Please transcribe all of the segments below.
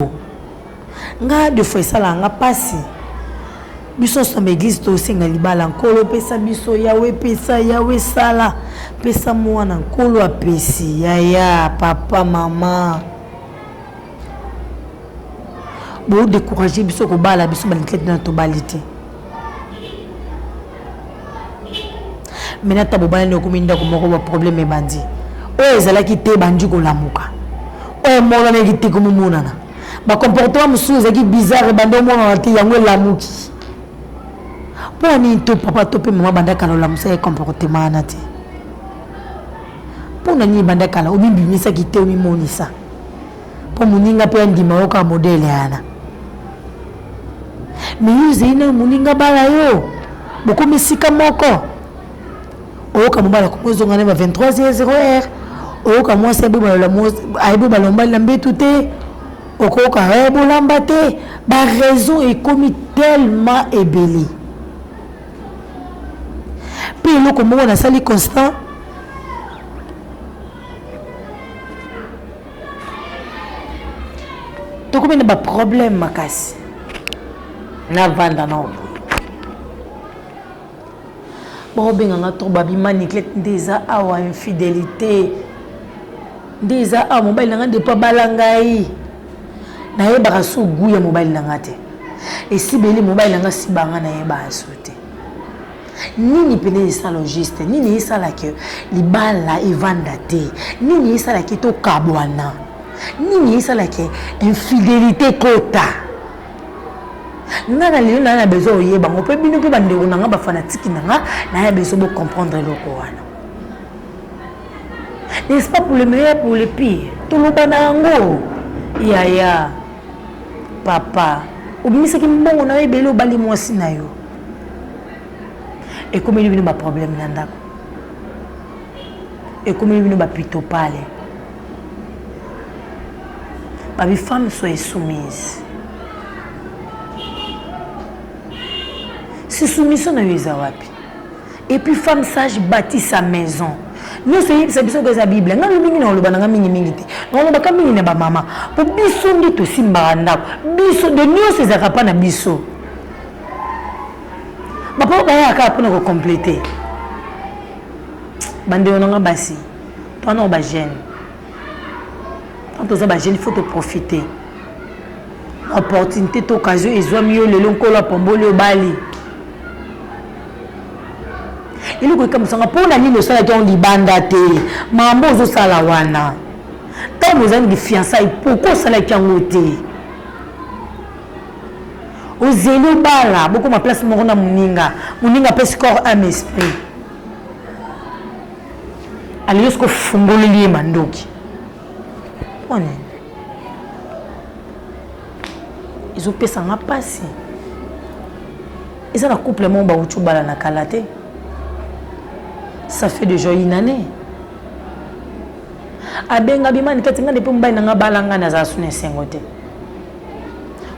yango nga de fois esalaka nga pasi biso nso na eglise tosenga libala nkolo pesa biso yawe pesa yawe sala pesa mwana nkolo apesi yaya papa mama bodecourage biso kobala biso balitlete na tobali te mena ata bobalani okomi ndako moko baproblème ebandi oyo ezalaki te ebandi kolamuka oyo emonanaki te komomonana bacomportement mosusu ezalaki bizarre ebandi omonana te yango elamuki mpo ya nini to papa to mpe mama banda kala olamusa ye comportement wana te mpo na nini banda kala omibimisaki te omimonisa mpo moninga mpe andima yo kaka modele yana mais yo ozali nayo moninga bala yo bokomi esika moko oyoka mobala komi ozonga na ba 23 ye 0 heure oyoka mwasi ayebi balombali na mbetu te okoyoka e bolamba te baraison ekomi tellement ebele mpe eloko moko nasali constant tokomi na baproblème makasi navanda na obo baobenga nga trop babima niglete nde eza awa infidélité nde eza awa mobali na nga nde mpo abala ngai nayebaka so gu ya mobali na nga te esibeli mobali na nga sibanga nayebaka so te nini mpena esala juste nini esala ke libala evanda te nini esala ke tokabwana nini esala ke infidelité kota nga na lelo naya na besoin oyeba ngo mpe bino mpe bandeko na nga bafanatiki na nga naya besoin bocomprendre eloko wana n'est-ce pas pour le meilleur pour le pire toloba na yango yaya papa obimisaki mbongo na yo ebele obali mwasi na yo ekomeli bino ba problème na ndako ekomeli bino ba pitopale babi femme soyez soumise si soumission na yo eza wapi et puis femme sage bâti sa maison nyonso eyebisa biso ko eza bible ngai mingi na oloba na ngai mingimingi te naolobaka mingi na bamama mpo biso nde tosimbaka ndako biso de nyonso ezalaka mpa na biso bapapa bayaka kaka mpona kocomplete bandeko na nga basi toanao bajeune tant toza bajeune faut toprofite opportunité to occasion ezwami yo lelo nkolo apamboli obali eloko ekamwisanga mpo na nini osalaki yango libanda te mambo ozosala wana ntango ozali lifiansai pourkui osalaki yango te Ozeli obala bokoma place moko na muninga. Muninga apesi corps ame esprit. Aleli soki ofungoleli ye mandoki. Mpo nini? ezopesa nga mpasi eza na couple moko bawuti obala na kala te ça fait déjà une année abenga bimani kati nga nde mpe mobali na nga balanga nazala suna esengo te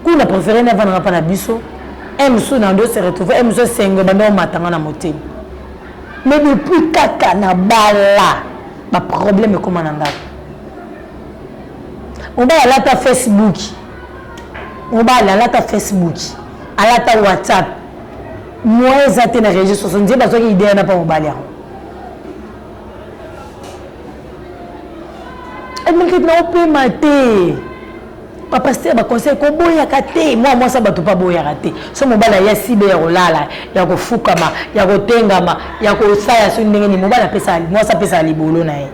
kuna prefere ne avandaka mpa na biso un mosusu na ndo se retrouve un mosusu esengo ebanda omata nga na motema mais depuis kaka na bala baproblème ekóma na ngai mobali alata facebook mobali alata facebook alata whatsapp moyen eza te na réseau sociaux nzembe azwaki idea na mpa mobali yango emaketi na opema te bapaster baconseil koboyaka te mwa mwasi ya bato mpe aboyaka te so mobali aya sibe ya kolala ya kofukama ya kotengama ya kosala soki ndenge nini mobali apesa mwasi apesaka libolo na ye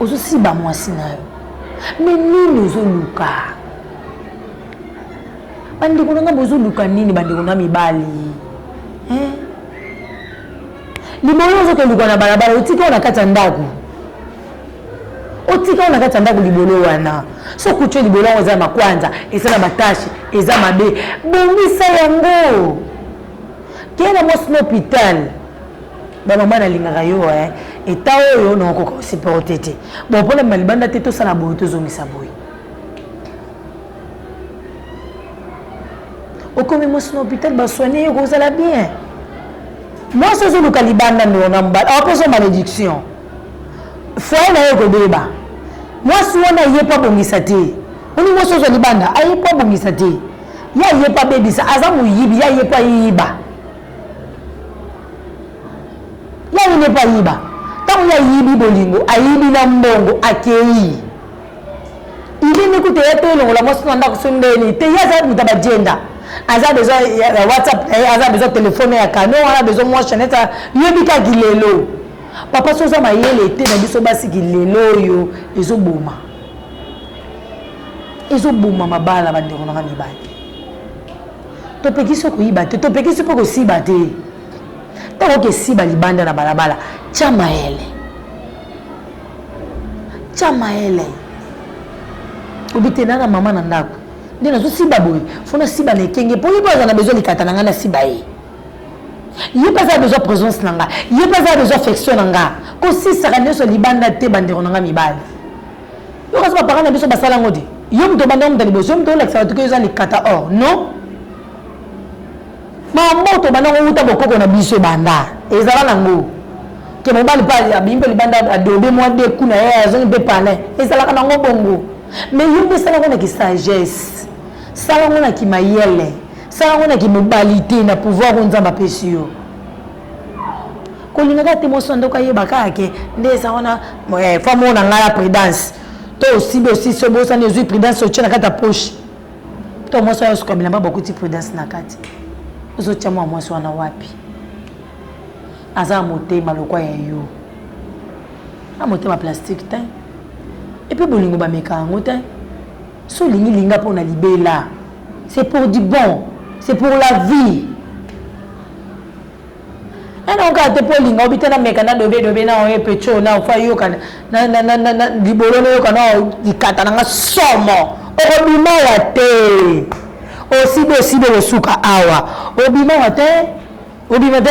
ozosiba mwasi na yo me nini ozoluka bandeko na ngai bozoluka nini bandeko na mibali eh? libolo ozokoluka na balabala otika yo na kati ya ndako otika na kati ya ndako libolo wana so kutio libolo yango eza na makwanza eza na batashe eza mabe bongisa yango kee na mwasi na hôpital bamama nalingaka yo eh. eta oyo nakokoka kosiporte te bon mpona bima libanda te tosala boye tozongisa boye okomi mwasi na hôpital basoigne ye kozala bien mwasi ozoluka libanda ndona mbala apesa malédiction Foyer nayo ekobeba. Mwasi wana ye po abongisa te. Olingi mwasi azwa libanda? A ye po abongisa te. Ya ye po abebisa. Aza moyibi. Ya ye po ayiba. Ya ye nde po ayiba. Tango ye ayibi bolingo, ayibi na mbongo, akeyi. Il est ne kutu ya to elongola mwasi na ndako so ndeni te. Ye aza moto ya ba gender. Aza besoin ya WhatsApp na ye, aza besoin telephone ya canon, aza besoin mwa chainette, yo bika ki lelo. papa so oza mayele te na biso basi kilelo oyo ezoboma ezoboma mabala bandeko nanga mibali topekisi okoyiba te topekisi mpe kosiba te ntango okesiba libanda na balabala tya mayele tya mayele obi te na na mama na ndako nde nazosiba boye fo nasiba na ekenge mpo ye mpo aza na bezwa likata na ngai nasiba ye ye mpe aza besoin présence na nga ye mpe aza besoin affection na nga kosisaka nyonso libanda te bandeko na nga mibali yo kasi bapara na biso basala yango te yo moto obanda moto ya liboso yo moto olakisa bato ke eza likata or non mamboto obanda ngo wuta bokoko na biso ebanda ezala nango ke mobali mpe abimi mpe libanda adobe mwa deku na ye azongi mpe palin ezalaka nango bongo mais yo mpe esala ngo na kisagesse sala ngo na kimayele sala yango na kimobali te na pouvoir oyo nzambe apesi yo kolingaka te mwasi na ndoko ayeba kaka ke nde eza wana eh, femme oyo na ngai ya prudence to osibi osisi obosani ozwi prudence otye na kati ya poche to mwasi oyo osuka bilamba bakuti prudence na kati ozotya mwa mwasi wana wapi aza motema lokwa ya yo na motema plastique te epuis bolingo bameka yango te Si olingi linga pona libela c'est pour du bon c'est pour la vie nana okaka te mpo olinga obita na meka na dobe dobe na oye pecho na ofa yoka libolo nayoka na likata na nga somo okobima wa te osibi osibi okosuka awa obima wa te obima te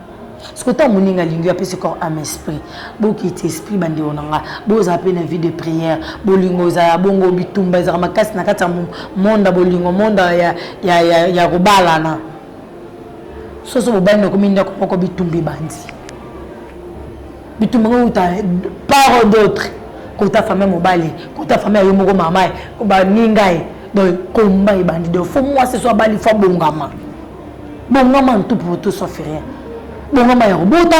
siko ntango moninga alingi yo apesi corps ame esprit bokiti esprit bandeko na nga bozala mpe na vie de prière bolingo ezala ya bongo bitumba ezalaka makasi na kati ya monda bolingo monda ya, ya, ya, ya kobalana soso bobali nakomi ndako moko bitumba ebandi bitumba ngo uta par d'autre kota fami ya mobali kota fami ya yo moko mama baninga ye donc komba ebandi donc fo mwasi so abali fo abongama bongama en tout pour tout sauf rien bongama ya kobota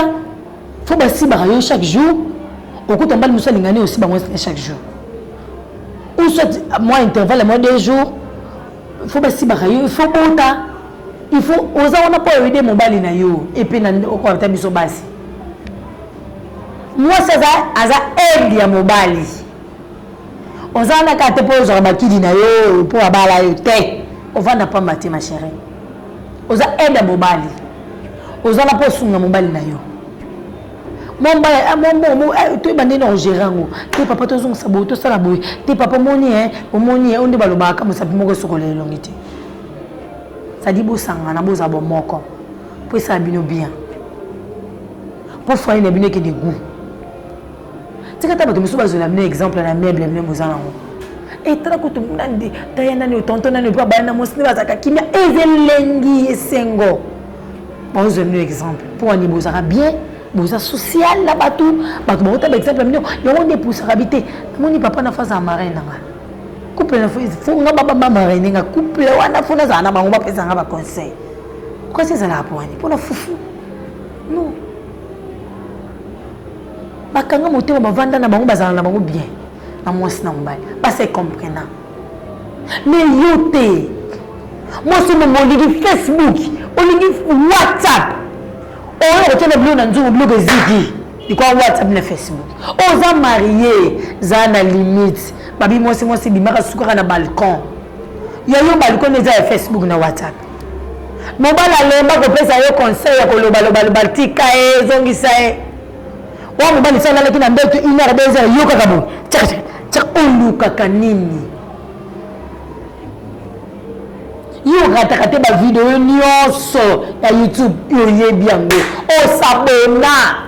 fo basibaka yo chaque jour okuta mbali mosusu alingani osi bango chaque jour ou soit mwa intervalle mwa deux jours fo basibaka yo fo bota il faut oza wana mpo oyede mobali na yo epe na okoata biso basi mwasi aza aza aide ya mobali oza wana kaka te mpo ozwaka bakidi na yo mpo abala yo te ovanda pamba te ma chérie oza aide ya mobali oza na mpo osunga mobali na yo toyeba ndeni ogere yango te papa tozongisa boye tosala boye te papa omoni e omoni e oyo nde balobaka mosapi moko esokola elongi te sadi bosangana boza bomoko mpo esala bino bien mpo foye na bino ekende gout tika ata bato mosusu bazwela bino exemple na meuble bino boza nango etala kutu nani taya nani otonto nani oyebi abaya na mwasi nde bazalaka kimia eza elengi esengo baozwa bino exemple mpo wani bozalaka bien boza social na bato bato bakota baexemple ya bino yango nde epusaka bi te namoni papa na faza ya marin na ngai couple na fo nga babamba maraine nga couple wana fo nazala na bango bapesa nga baconseil kasi ezalaka mpo wani mpo na fufu non bakanga motema bavanda na bango bazala na bango bien na mwasi na mobali basi ecomprena me yo te mwasi omongo olingi facebook olingi whatsapp oyo okotya na bilo na nzungu biloko eziki likwa whatsapp na facebook oza marie za na limite babi mwasi mwasi bimaka sukaka na balcon yayo balcon eza ya facebook na whatsapp Mobali alemba kopesa yo conseil ya koloba loba loba tika ye zongisa ye. Wa mobali soki alalaki na ndoto une heure deux heures yokaka boye tchaka tchaka tchaka olukaka nini? Yo orataka te ba video nyonso ya YouTube oyebi yango osabona.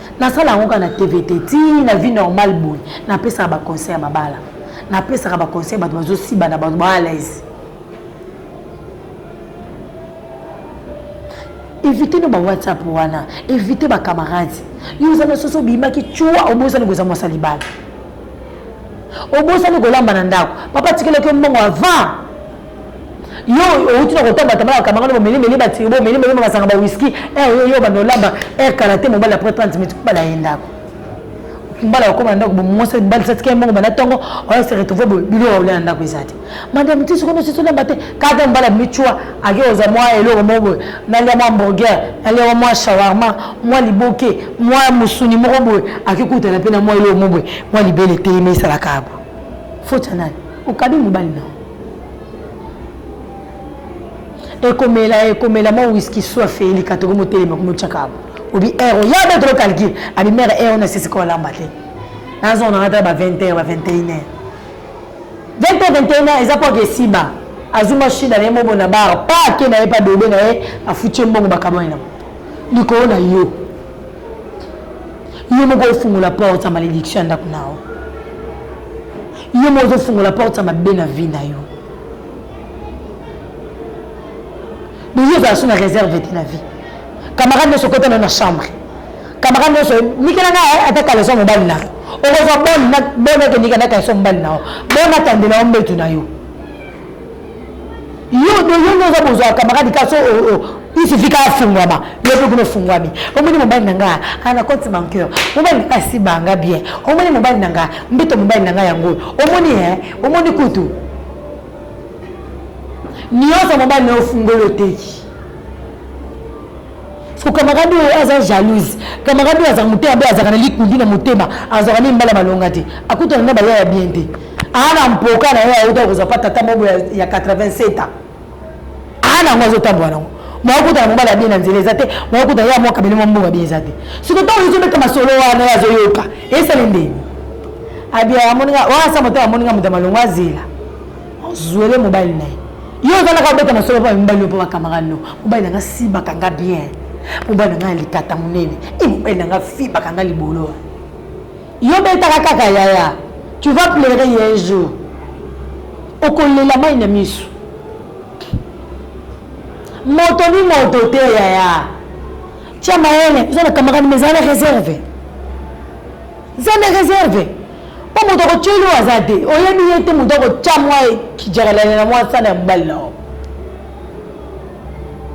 Nasala yango kaka na TV te, ti na vie normale boye, napesaka ba conseil ya mabala, napesaka ba conseil bato bazosibana, bato ba à l'aise. Evite no ba WhatsApp wana, evite ba camarades. Yo oza na soso obimaki chua obosani koza mwasa libala. Obosani kolamba na ndako. Papa tikelaki yo mbongo avant yo outi na kotambatama na kamanga lobo melemele batiribo melemele masanga ba whisky eh, yo yo banda olamba eh, kala te mobali après 30 minutes kobala ye ndako mbala okoma na ndako bomwasi mobali satika ye mbongo banda ntongo oya se retrouve boye biloko olia na ndako eza te madame ti sokono sisi olamba te kaka mbala micua ake oza mwa eloko moko boye nalia mwa hamburger nalia mwa shawarma mwa liboke mwa mosuni moko boye akikutana mpe na mwa eloko moko boye mwa libele etelemi esalaka abo foti ya nani okabi mobali nao ekomela ekomela mwa wiski soif elika tokomi otelema komi otyaka obi ero ya be tolo calcule abi mere ero na sisika olamba te nazonga nanga tala ba 20 heure ba 21 heure 20 heure 21 heure eza mpo ake esiba azwi mashine na ye mobo na bar pa ake na ye pa dobe na ye afuti ye mbongo bakabwani na likolo na yo yo moko ofungola porte ya malédiction ya ndako na yo yo moko ozofungola porte ya mabe na vie na yo boye ozala so na réserve te na vie camarade nyonso okota nayo na chambre camarade nyonso nikela nga eh, ata kaleso mobali na okozwa bone akendika na kaleso mobali na yo bone atandela yo mbetu na yo yo de yo nde oza bozwa camarade kasi isifika afungwama yo mpe kuna ofungwami omoni mobali na ngai ana compte banqueur mobali na ngai asibanga bien omoni mobali na ngai mbeto mobali na ngai yango oyo omoni e omoni kutu nyonso mobali na yo ofungoli oteki Siko camarade oyo aza jalouse. Camarade oyo azaka motema be azaka na likundu na motema. Azwaka ne mbala malonga te. Akutana na baya ya bien te. Ana mpoka na ye auta kozwa pa tata mobo ya, ya 87 ans. Ana ngo azotambola nango. Mwakutana mobali ya bien na nzela eza te. Mwakutana ye amwa kabele mwa mbongo bien eza te. Siko ntango ezobeta masolo wana ye azoyoka. Esale ndeni? Abia amoninga, wana sa motema amoninga moto ya malonga azela. Zuele mobali na ye. Yo oza naka obeta masolo mpo mibali yo mpo bakamarade no. Mobali na nga si bakanga bien. Mobali na nga ya likata monene. E mobali na nga fi bakanga libolo. Yo betaka kaka yaya. Tu vas pleurer ye un jour. Okolela mai na misu. Moto ni moto te yaya. Tia mayele. Oza na kamarade mais ezala na reserve. Eza na reserve. mpo moto akotyeli oyo aza te oyebi ye te moto akotya mwa kijakalani na mwa sana ya mobali na yo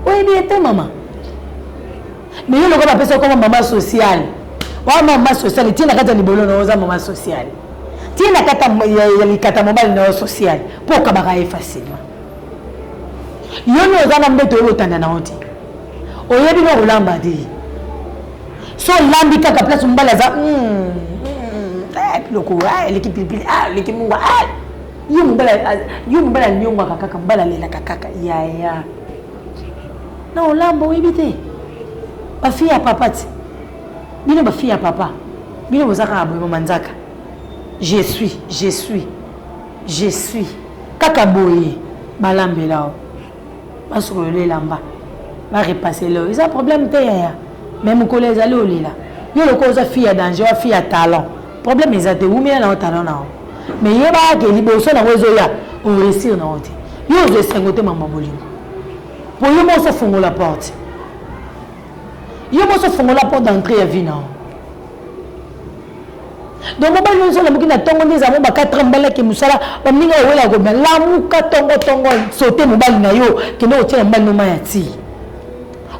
oyebi ye te mama me yo lokola bapesa koma mama sociale wa mama sociale tie na kati ya libolo na yo oza mama sociale tie na kati ya likata mobali na yo sociale mpo okabaka ye facilement yo nde oza na mbeto oyo otanda na yo te oyebi na kolamba te so olambi kaka place mobali aza hmm, hmm, hmm, eh, piloko eh, eleki pilipili ah, eleki mungwa ah. yo mobali anyongwaka kaka mobali alelaka kaka yaya na olambo oyebi te bafille ya papa ti bino bafille ya papa bino boza kaka boye bomanzaka je suis je suis je suis kaka boye balambela o basokolela elamba barepase leo eza problème te yaya me mokolo ezali olela yo lokola oza fille ya danger wa fille ya talent problème eza te wumela nango talent na yango me yebaka ke liboso nango ezoya oresir nango te yo ozwa esengo te mama bolingo po yo moso ofongola porte yo moso ofongola porte d'entrée ya vie na yango donc mobali oyo ozolamuki na ntongo nde ezala mo ba 4 ans mobali ake mosala baninga owela kobima lamuka ntongo ntongo sote mobali na yo kende kotyela mobali no mai ya tii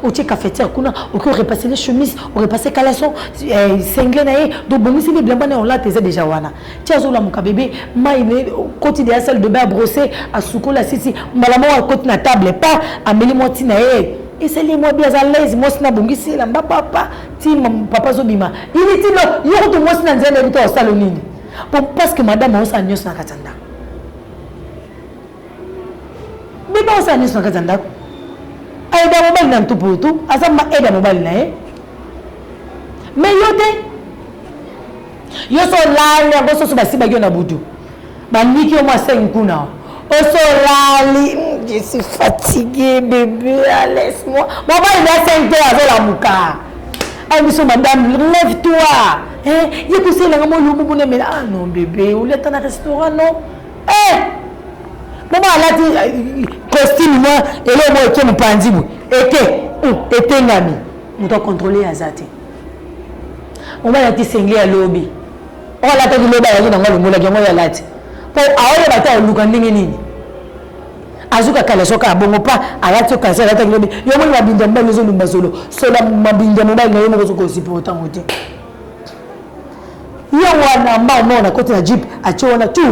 otie cafetière kuna oke orepasse le chemise orepasse caleçon eh, sengle na ye donc bongisi nde bilamba na olata eza deja wana ti azolamuka bebe mai koti deya salle de bain abrosse asukoli asisi mbala moko akoti na table pa ameli mwa ntina ye esali mwa bi aza laise mwasi nabongisi elamba papa ti papa azobima ili ti yo kutu mwasi na nzela nayebi te osala nini po parce que madame aosala nyonso na kati ya ndako bebe aosala nyonso na kati ya ndako aida mobali na ntuputu aza ma aida mobali na ye me yo te Yo so lali yango soso basiba yo na butu. Baniki yo mwa sengi kuna. Oso lali, mm, je suis fatiguée bébé, ah, laisse-moi. Mobali na sengi te azolamuka. Ah biso madame, lève-toi. Hein, ye kusela nga mo lubu bune mela. Ah non bébé, oleta na restaurant non. Eh! Mama alati euh, costume mwa eloko eke mopanzi boye. Eke, mm, etengami. Moto akontrole aza te. mobali alati sengle ya lobi oyo alataki lobi ayaki nango alongolaki yango oyo alati mpo aoyeba te aoluka ndenge nini azuka kala soki abongo pa alati yo kasi alataki lobi yo omoni mabinda mobali ozolumba zolo sola mabinda mobali na yo moko ozokozipa otango te ye wana mbao moko nakoti na jipe atie wana tu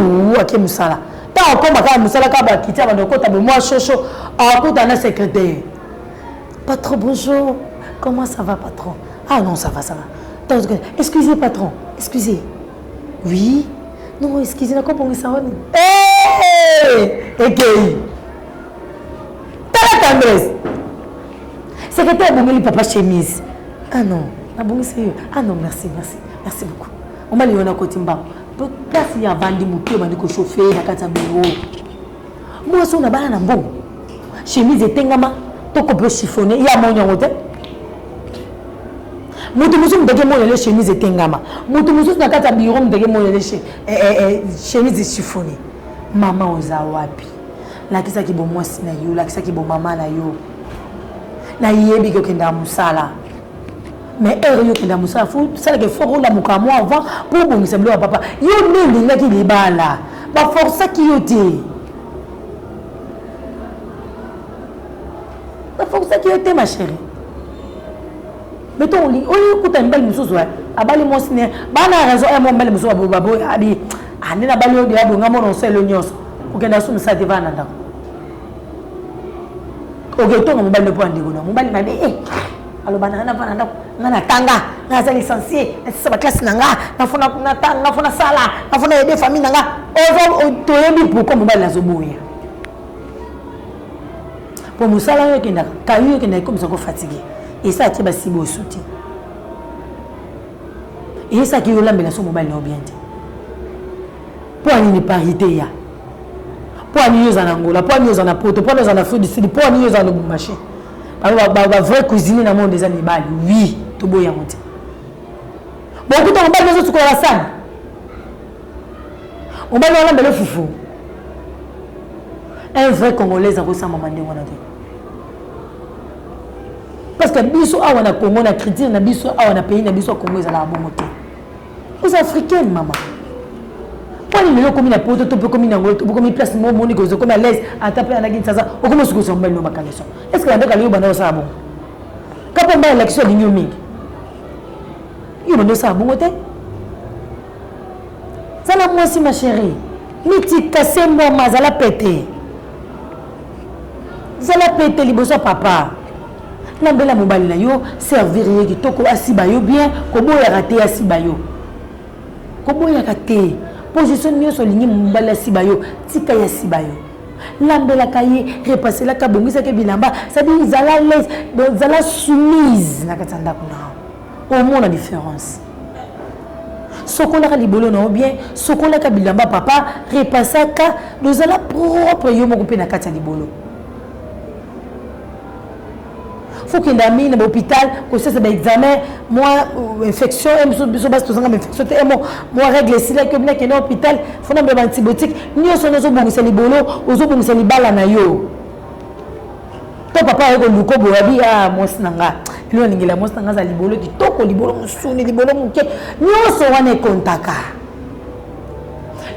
ake mosala ntango akoma kaka mosala kaka bakiti abanda kokota bomwa shosho akota na secretaire Patron bonjour comment ça va patron ah non ça va ça va excusez patron excusez oui non excusez na kobongisa wani ekei tala tendresse secrétaire abongeli papa chemise ah non nabongisi yo ah non merci merci merci beaucoup omali yo na koti mbango place ya avandi moke obandi kochauffe na kati ya biro mwasi oyo na bana na mbongo chemise etengama to kope chiffone ya moni yango te moto mosusu mutaki emonele chemise etengama moto mosusu na kati ya biro mutaki emonele chemise eh, eh, eh, chiffone mama oza wapi lakisaki bomwasi na yo lakisaki bomama na yo nayebi kokendaka mosala mais heure yo kenda mosala fo salaka effort olamuka mwa avant mpo obongisa biloko ya papa yo nde olingaki libala baforsaki yo te baforsaki yo te ma chérie mais to olingi oyo okuta mibali mosusu abali mwasi ne bana ya raison ya mwa mibali mosusu baboya abi ande na bali oyo deya bonga mona oselo nyonso okenda asumisa te vana ndako oketonga mobali lopo ya ndeko na mobali mabe e eh. aloba na na bana ndako nga natanga nga aza licencie nasisa baklasse na nga nafona natanga nafona sala nafona yede famille na nga toyebi pourkoi mobali azoboya mpo mosala yo ekendaka kayu ekendaka ekomisa ko fatigue esi atie basiba osu te esi ake yolambela so mobali na yo bien te mpo anini parité ya mpo ani yo oza na angola mpo ani yo oza na poto mpo ani oza na afrique du sud mpo ani yo oza na lubumbashi Ba, ba, ba vrai cuisine na monde eza mibali. Oui, toboyi yango te. Bokuta mobali bazo sukola la salle. Mobali wana mbele fufu. Un vrai congolais akosamba mande wana te. Parce que biso awa na Congo na critique na biso awa na pays na biso Congo ezalaka bongo te. oza africaine mama mpona lelo okomi na poto to mpe okomi nango okomi place mo omoni kozo okomi alaise ata mpe alaki nsaza okomi osukusa mobali no bakaleso est ce que yandoka lelo banda osala bongo kapa mbai alakisi alingi yo mingi yo banda osala bongo te zala mwasi ma chérie mitika se mwama azala pete zala pete liboso ya papa lambela mobali na yo servir ye kitoko asiba yo bien koboyaka te asiba yo koboyaka te position nyonso olingi mobali asiba yo tika ye asiba yo lambelaka ye repaselaka abongisaki bilamba sadi zala lese zala soumise na kati ya ndako na yo omona différence sokolaka libolo na yo bien sokolaka bilamba papa repasaka dozala propre yo moko mpe na kati ya libolo faut kende ami na hôpital kosesa ba examen mwa euh, infection e biso biso basi tozanga ba infection te e mo mwa règle esilaki obina kende hôpital fo na mbeba antibiotique nyonso wana ozobongisa libolo ozobongisa libala na yo to papa aye koluka boye abi a ah, mwasi na nga elo alingela mwasi na nga aza libolo kitoko libolo mosuni libolo moke nyonso wana ekontaka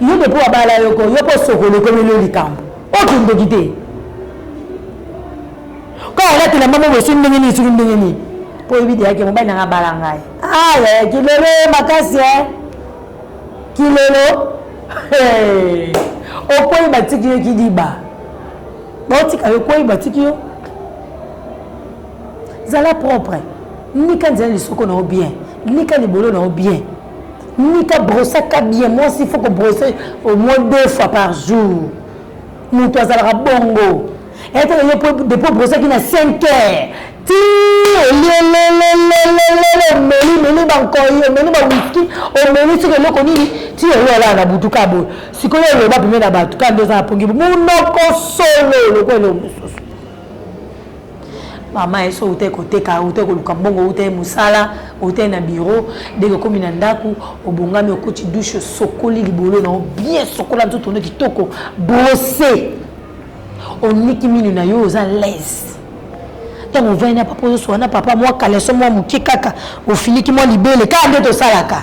yo depo abala yoko yo mpo sokolo ekomeli yo likambo Ozo ndoki te. Kaka olati elamba moko esoki ndenge nini esoki ndenge nini. Po oyebi deja ke mobali nanga abala ngai. Ah ya kilelo makasi eh. Kilelo. Hey. Okwei batiki yo kidiba. Baotika yo okwei batiki yo. Zala propre. Nika nzela lisoko na yo bien. Nika libolo na yo bien. Mika brosaka bien mwasi faut ko brosser au moins deux fois par jour moto azalaka bongo etala yo po depuis obrosaki na 5 heures ti olielelelelelele omeli meli bankoi omeli bawiski omeli soki eloko nini ti oyo alaa na butu ka boye sikoyo oloba pembe na bato ka nde oza na pongi monoko solo lokola eloko mosusu mama esi outai koteka outai koluka mbongo outai mosala outai na biro ndenge okomi na ndako obongami okoti dushe osokoli libolo na yo bien sokola nzoto ono kitoko brose oniki mino na yo oza laise ntango ovandi na papa ozosoka na papa mwa kaleso mwa moke kaka ofiliki mwa libele kaka nde tosalaka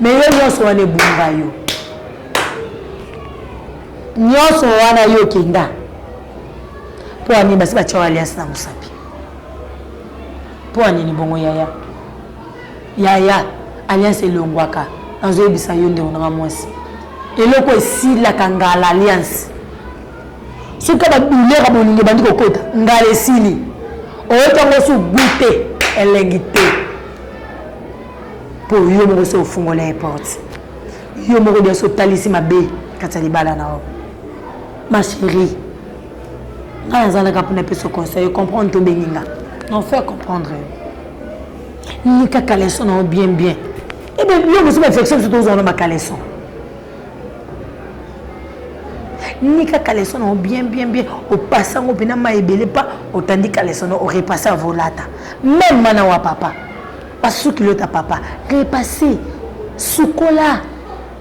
mais yo nyonso wana ebunga yo nyonso wana yo okenda mpo anini basi batya alias na mosapi mpo anini bongo yaya yaya alias elongwaka nazoyebisa yo ndeko nanga mwasi eloko esilaka ngala alias soki babilera bolingo ebandi kokota ngala esili oyoki yango su gute elengi te mpo yo moko se ofungola ye porte yo moko liasi otalisi mabe kati ya libala na yo ma chérie ngai nazalaka mpona peso conseil ocomprendre to obengi nga non faire comprendre yo nika caleson na yo bien bien ebe eh yo mosu bainfection biso tozwa na bacaleson nika caleson na yo bien bien bien opasa yango mpena mai ebele mpa otandi caleson na yo orepasse avolata meme mana wa papa pasuki lota papa repase sukola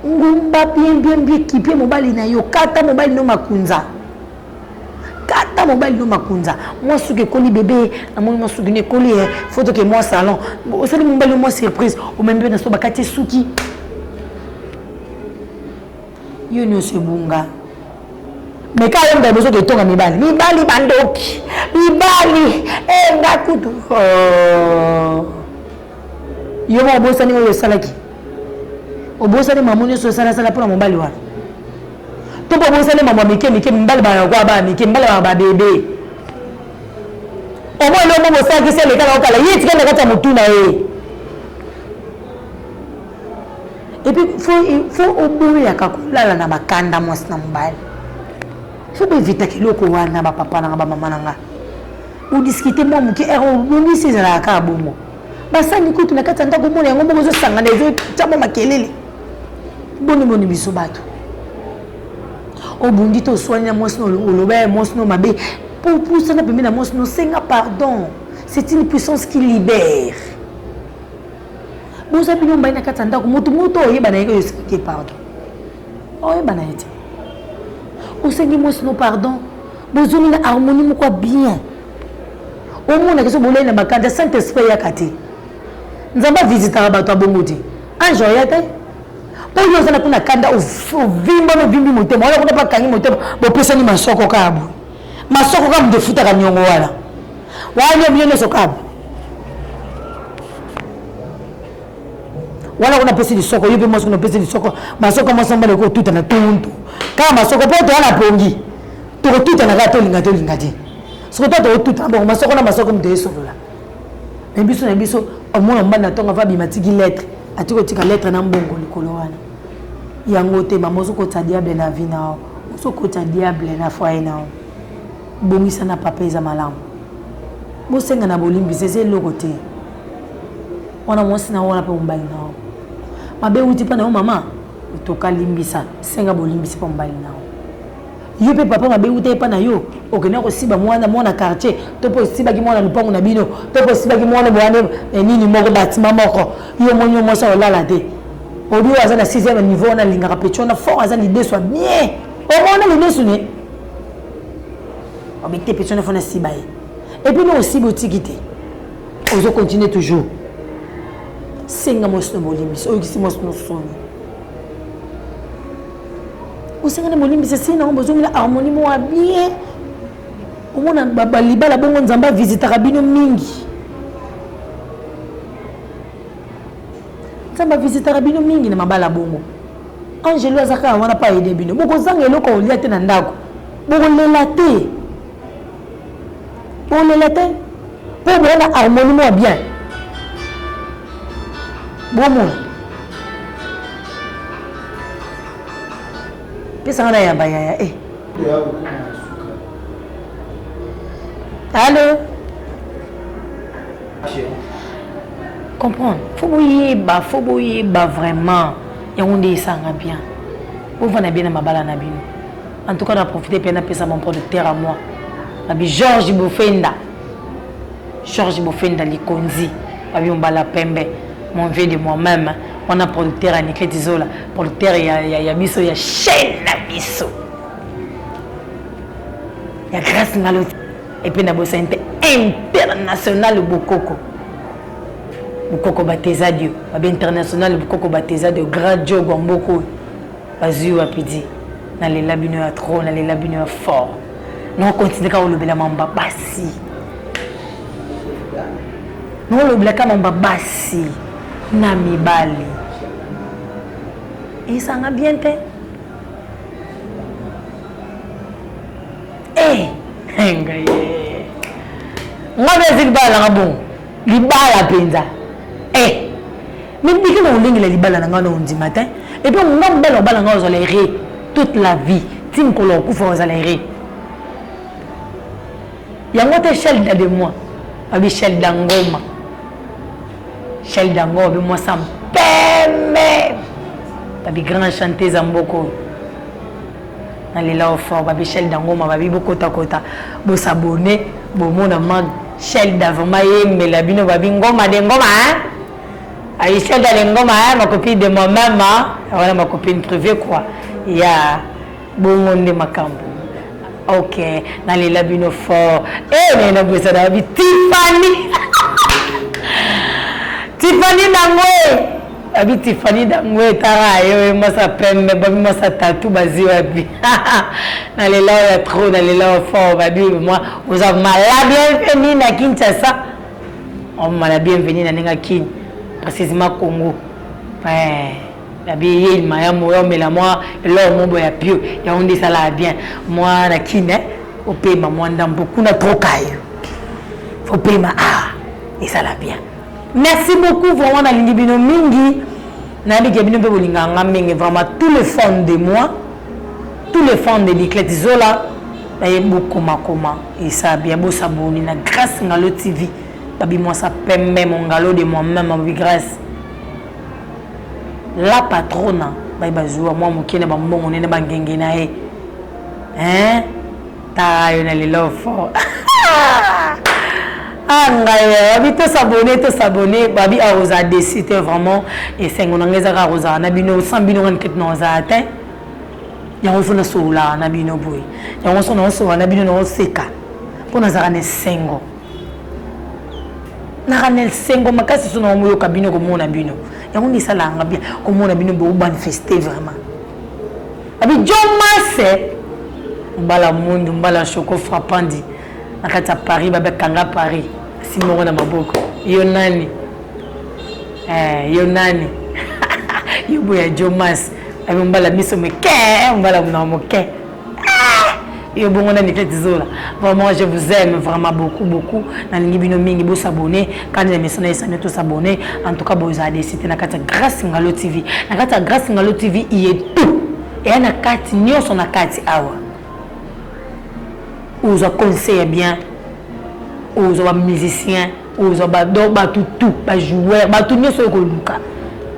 ngumba bien bien bien kipie mobali na yo kata mobali no makunza kata mobali no makunza mwa suki ekoli bebe namoni mwa suki no ekoli e eh, fo toke mwa salon osali mobali no mwa surprise omemi mpe na so bakati suki Yo nioso ebunga. Mais ka yemba bozo ke tonga mibali. Mibali bandoki. Mibali eh nga kutu. Oh. Yo mo bosani oyo salaki. Obosani mamu nioso sala sala pona mobali wana. To po bosani mamu mike mike mibali ba kwa ba mike mibali ba ba bebe. Omo lo mo bosaki se le kala okala. Yiti kenda kata mutuna eh. epuis fo fo oboyaka kolala na bakanda mwasi na mobali fo boevitaka eloko wana bapapa nanga bamama na nga odiscute mwa moke ere obongisi ezalaka kaka bongo basani kutu na kati ya ndako omona yango moko ezosangana ezotya mwa makelele boniboni biso bato obundi to oswani na mwasi no oloba ya mwasi no mabe mpo opusana pembe na mwasi no senga pardon c'est une puissance qui libère boza bino mbai na kati ya ndako motu moto oyebana yeke oyosi te pardon oyebana ye te osengi mwasi no pardon bozongi na harmonie moko ya bien omonaka so bolei na makanda saint esprit eyaka te nzambe avisitaka bato ya bongo te ange oya te mpo yo ozala kuna kanda ovimbana ovimbi motema wana kuna bakangi motema bopesani masoko kaka boye Masoko kaka moto efutaka niongo wana wana bino nionso kaka wana kuna pesi lisoko yo mpe mwasi kuna opesi lisoko masoko mwasi mobali ekotutana tuntu kaka masoko mpo to wana pongi tokotutana kaka tolinga tolinga te soko to tokotutana bongo masoko na masoko moto esolola na biso na biso omona mobali na ntongo ava bima tiki lettre atiki kotika lettre na mbongo likolo wana yango te mama ozokotisa diable na vi na Ozo kota diable na foyer na yo bongisa na papa eza malamu bosenga na bolimbisi eza eloko te wana mwasi na yo wana mpe mobali na yo mabe euti mpo na yo mama otoka limbisa senga bolimbisi mpo mobali na yo yo mpe papa mabe euta epa na yo okenda kosiba mwana mwana quartier to mpe osibaki mwana lopango na bino to mpe osibaki mwana boane eh, nini moko batima moko yo omoni yo mwasi olala te Audio aza na sixième niveau wana alingaka petit wana fort aza lidesu ya bien omona lidesu ne obete oh, petit wana fona siba ye epuis no osiba otiki te ozo continue toujours senga mwasi no bolimbisi oyokisi mwasi no soni osenga na bolimbisi esili nango bozongela harmonie moko ya bien omona balibala bongo nzambe avisitaka bino mingi nzambe avisitaka bino mingi na mabala bongo angelu aza kaka wana mpo aide bino bokozanga eloko ya kolia te na ndako bokolela te bokolela te mpo boya na harmonie mwa bien bomona pesanga na ya bayaya e eh. alo comprendre fo boyeba fo boyeba vraiment yango nde esanga bien bovanda bien na mabala na bino en tout cas na profite mpe napesa mon producteur à moi babi george bofenda george bofenda likonzi babi mobala pembe mon vieux de moi-même wana producteur ya nikleti zola producteur ya, ya, ya biso ya chaîne na biso ya grace ngaloti Et puis nabosani te international bokoko bokoko bateza dio babe international bokoko bateza dio grand dio gwamboko oyo bazwi wapi di nalela bino ya trop nalela bino ya fort naokontinue kaka olobela mamba basi naolobela kaka mamba basi na mibali esanga bien te eh, eh ngai eh. ngai mpe ezi libala nanga bongo libala mpenza eh mindiki na olengela libala na ngai na ondima te epuis nga mobala obala ngai ozala ere toute la vie ti mokolo okufa ozala ere yango te shelda de moi abi shelda ngoma shelda ngoma bi mwasa mpeme babi grand chanteuse ya mboka oyo Na lela yo fort ba Michel Dangoma ba bi bokota kota bo s'abonner bo mona ma Michel Da vraiment yembela bino ba bi ngoma de ngoma hein Aïcha da ngoma hein ma copine de moi même voilà ma copine privée quoi ya yeah. bongo nde makambo ok na lela bino fort e eh, naye na bwesa na babi tifani tifani nango e abi tifani dango etara yo ye mwasi ya pembe babi mwasi ya tatu bazi wapi na lela oyo ya trop na lela oyo fort babi mwa oza mala bienveni na kinshasa omala oh, bienveni na ndenge kin précisement congo eh, babi ye ilima ya moya omela mwa eloko mobo ya pio yango nde esalaka bien mwa na kin eh, opema mwa ndambo kuna trokayo fopema awa ah, esala bien Merci beaucoup vraiment nalingi bino mingi nayebi ke bino mpe bolingaka nga mingi vraiment tous les fans de moi tous les fans de biclete zola baye bokomakoma esa bien bosaboni na grace ngalo tv babimwasa pembe mongalo de moi meme babi grace la patrona baye bazwa mwa moke na bambongo nene bangenge na ye hein tara yo na lelo fort ah ngai eh, abi to s'abonner to s'abonner babi a oza déçu te vraiment esengo na ngai eza kaka kozala na bino sans bino ngani kete na ozala te yango fo nasololaka na bino boye yango so naosolola na bino naoseka mpo nazalaka na esengo naka na esengo makasi so naomoyoka bino komona bino yango nde esalaka nga bien komona bino bomanifeste vraiment Abi John Masse mbala mundu mbala choco frappandi na kati ya Paris babe kanga Paris simoko na maboko yo nani eh, yo nani yo boya John Masse abi mbala miso mike mbala muna moke Yo bongo na Niclette Zola. Vraiment je vous aime vraiment beaucoup beaucoup. Na lingi bino mingi bo s'abonner. Kandi na mesana esana to s'abonner. En tout cas bo za desite na kati Grace Ngalo TV. Na kati Grace Ngalo TV il y a tout. Et na kati nyoso na kati awa. Oza conseil bien. Oza ba musicien, oza ba do ba tout tout, ba joueur, ba tout nyoso ko luka.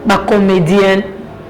Ba comédienne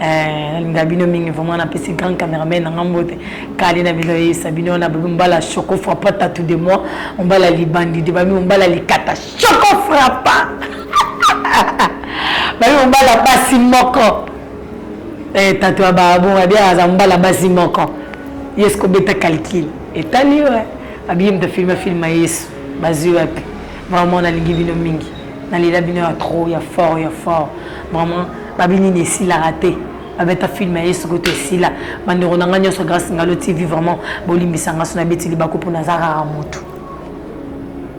Eh, nalinga bino mingi vraiment napesi grand cameraman nanga mbote kali na bino yeyisa bino na bobi mbala choco frappa tatu de moi mbala libandi de bami mbala likata choco frappa bami mbala basi moko eh, tatu ya babonga de aza mbala basi moko yesu kobeta calcul etali yo eh. abiye moto afilma filma yesu bazwi wapi vraiment nalingi bino mingi nalela bino ya trop ya fort ya fort vraiment babi nini esilaka te babeta film ya yesu kutu esila bandeko na ngai nyonso grâce ngalo tv vraiment bolimbisa nga so nabeti libaku mpo naza kaka motu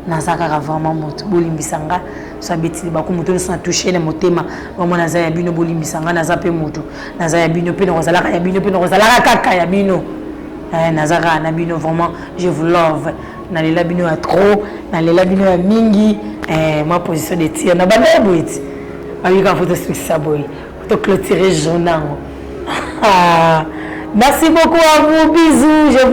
naza kaka vraiment motu bolimbisa nga so abeti libaku motu nyonso na touche na motema vraiment naza ya bino bolimbisa nga naza mpe motu naza ya bino mpe nakozalaka ya bino mpe nakozalaka kaka ya bino eh, naza kaka na bino vraiment je vous love na lela bino ya trop na lela bino ya mingi eh, ma position de tir na banda ya boye ti babika foto sukisa boye to clôturer journal merci beaucoup à vous bisous je